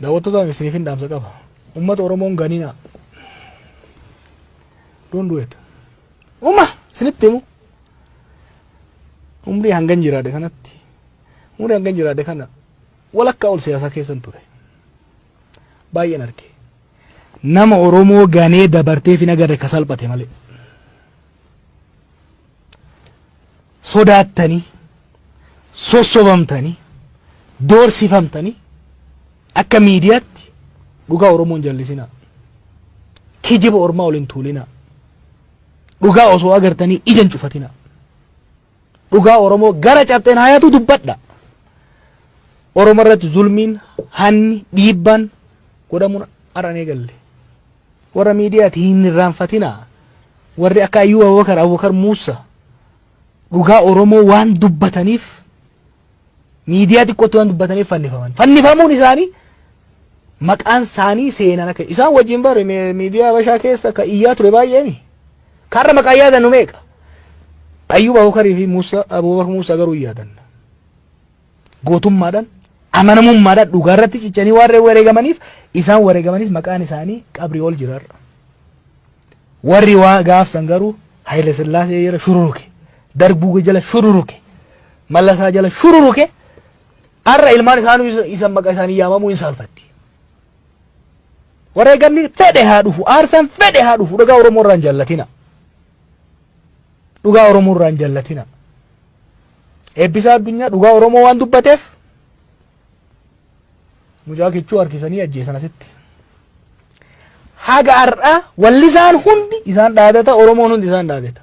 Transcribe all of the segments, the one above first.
Daawwattootaaf isiniifin dhaamsa qaba. Uummata Oromoon ganinaa. Don't do it. Uma isinitti himu. Umrii hangan jiraadhe kanatti. Umrii hangan jiraadhe kana walakkaa ol siyaasaa keessan ture. Baay'een arge. Nama Oromoo ganee dabartee fi nagarre ka salphate malee. sodaattanii, sossobamtanii, doorsifamtanii akka miidiyaatti dhugaa Oromoo hin jallisinaa. Kijiba ormaa ol hin tuulinaa. Dhugaa osoo agartanii ija hin cufatinaa. Dhugaa Oromoo gara cabxeen haayatu dubbadha. Oromoo irratti zulmiin, hanni, dhiibbaan godhamuun har'an eegalle. Warra miidiyaati hin irraanfatinaa warri akka Ayyuu Abubakar Abubakar Muussa dhugaa Oromoo waan dubbataniif miidiyaa xiqqootti waan dubbataniif fannifaman. Fannifamuun isaanii maqaan isaanii seenaan akka isaan wajjin bare miidiyaa Habashaa keessa ka iyyaa ture baay'eemi. Kaarra maqaa yaadannu meeqa? Ayyuub Abubakarii fi Muussa Abubakar Muussa garuu yaadanna. gootummaadhaan, amanamummaadhaan dhugaa irratti cichanii waan wareegamaniif isaan wareegamaniif maqaan isaanii qabrii ol jira har'a. Warri waa gaafsan garuu Hayila Sillaasee jala shururuke, Darguu jala shururuke, Mallasaa jala shururuke har'a ilmaan isaanuu isa- isa maqa isaanii yaamamuu hin saalfatti. Wareegamni fedhe haa dhufu, aarsaan fedhe haa dhufu dhugaa Oromoo irraa hin jallatina. Dhugaa Oromoo irraa hin jallatina. Eebbisaa Addunyaa dhugaa Oromoo waan dubbateef mucaa kichuu harkisanii ajjeesan asitti. Haga har'aa wallisaan hundi isaan dhaadata Oromoon hundi isaan dhaadata.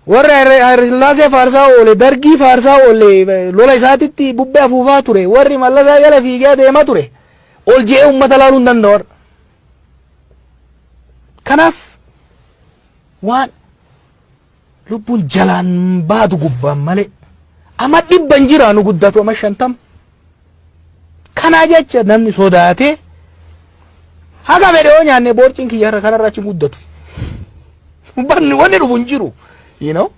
Warra Hayilasillaasee faarsaa oole, Dargii faarsaa oole, lola isaatitti bubbee afuufaa ture, warri mallasaa jala fiigee deemaa ture, ol je'ee uummata laaluu hin danda'u. Kanaaf waan lubbuun jalaan baadu gubbaan malee ama dhibba hin jiraanu guddatu ama shantam kanaa jecha namni sodaatee haga fedhe yoo nyaanne boorciin kiyya irra kanarra achi hin guddatu barni wanni dhufu hin jiru you know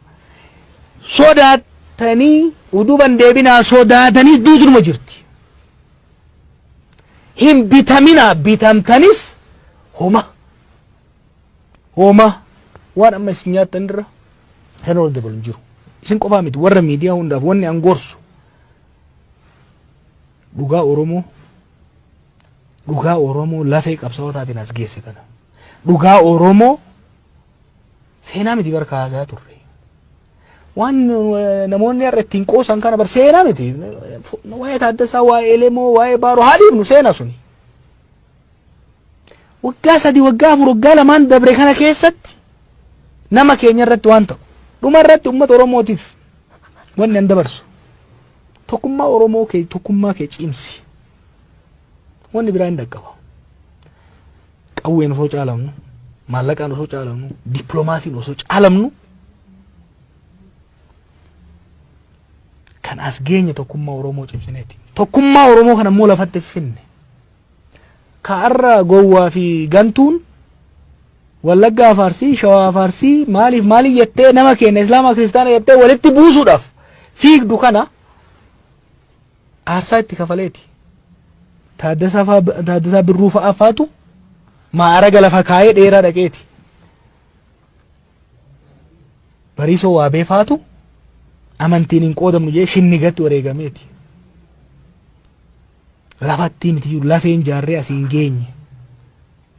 sodaatanii uduban deebinaa sodaatanii duutunuma jirti hin bitaminaa bitamtanis homa Hoomaa waan amma isin nyaattan irra kan wal dabalu hin jiru. Isin qofaa miti warra miidiyaa hundaaf wanni an gorsu dhugaa Oromoo dhugaa Oromoo lafee qabsaa'otaatiin as geesse tana. Dhugaa Oromoo seenaa miti bara kaasaa turre. Waan eh, namoonni har'a ittiin qoosan kana bar seenaa miti. Waa'ee Taaddasaa, waa'ee Elemoo, waa'ee Baaroo haa dhiifnu seenaa suni. Waggaa sadii, waggaa afur, waggaa lamaan dabre kana keessatti nama keenya irratti waan ta'u. Dhuma irratti uummata Oromootiif wanni an dabarsu. Tokkummaa Oromoo kee tokkummaa kee cimsi. Wanni biraa hin dhaqqaba. Qawween osoo caalamnu, maallaqaan osoo caalamnu, dippiloomaasiin osoo caalamnu kan as geenye tokkummaa Oromoo cimsineeti. Tokkummaa Oromoo kana immoo lafatti finne. Ka arra gowwaa fi gantuun Wallaggaa fi Arsii, Shawaa fi Arsii maaliif maaliif jettee nama keenya Islaama Kiristaana jettee walitti buusuudhaaf fiigdu kana aarsaa itti kafaleeti. Taaddasaa faa- Taaddasaa Birruu fa'aa faatu maa'araga lafa kaayee dheeraa dhaqeeti. Bariisoo Waabee faatu amantiin hin qoodamnu jee shinnigatti wareegameeti. Lafattii mitiyyuu lafeen jaarree asiin geenye.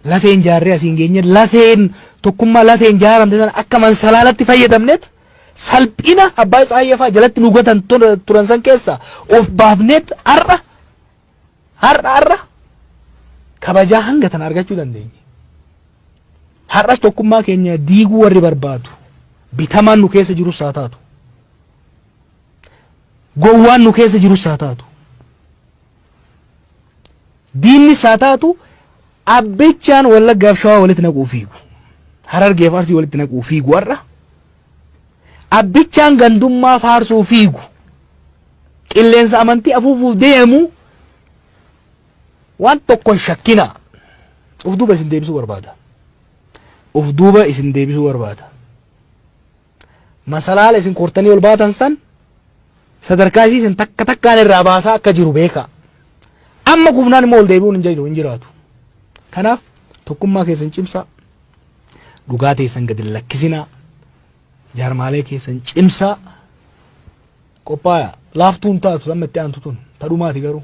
Lafeen jaarree asiin geenye lafeen tokkummaa lafeen jaaramte sana akka mansalaalatti fayyadamneet salphina abbaa Tsaayee fa'aa jalatti nu gatan turan san keessa of baafneet har'a har'a har'a kabajaa hanga tana argachuu dandeenye. Har'as tokkummaa keenya diiguu warri barbaadu bitamaan nu keessa jirus haa taatu. Gowwaan nu keessa jirus haa taatu, diinnis haa taatu abbichaan Wallaggaaf Shawaa walitti naquu fiigu. Harargeef Arsii walitti naquu fiigu har'a. Abbichaan gandummaa faarsuu fiigu. Qilleensa amantii afuufuuf deemu waan tokko hin shakkina. Of duuba isin deebisuu barbaada. Of duuba isin deebisuu barbaada. Masalaala isin kortanii ol baatan san sadarkaa isii isin takka takkaan irraa baasaa akka jiru beekaa. Amma gubnaan immoo ol deebi'uun hin jiru hin jiraatu. Kanaaf tokkummaa keessan cimsaa. Dhugaa teessan gadi hin lakkisinaa. Jaarmaalee keessan cimsaa. Qophaaya laaftuun taatu amma itti aantu tun tadhumaati garuu.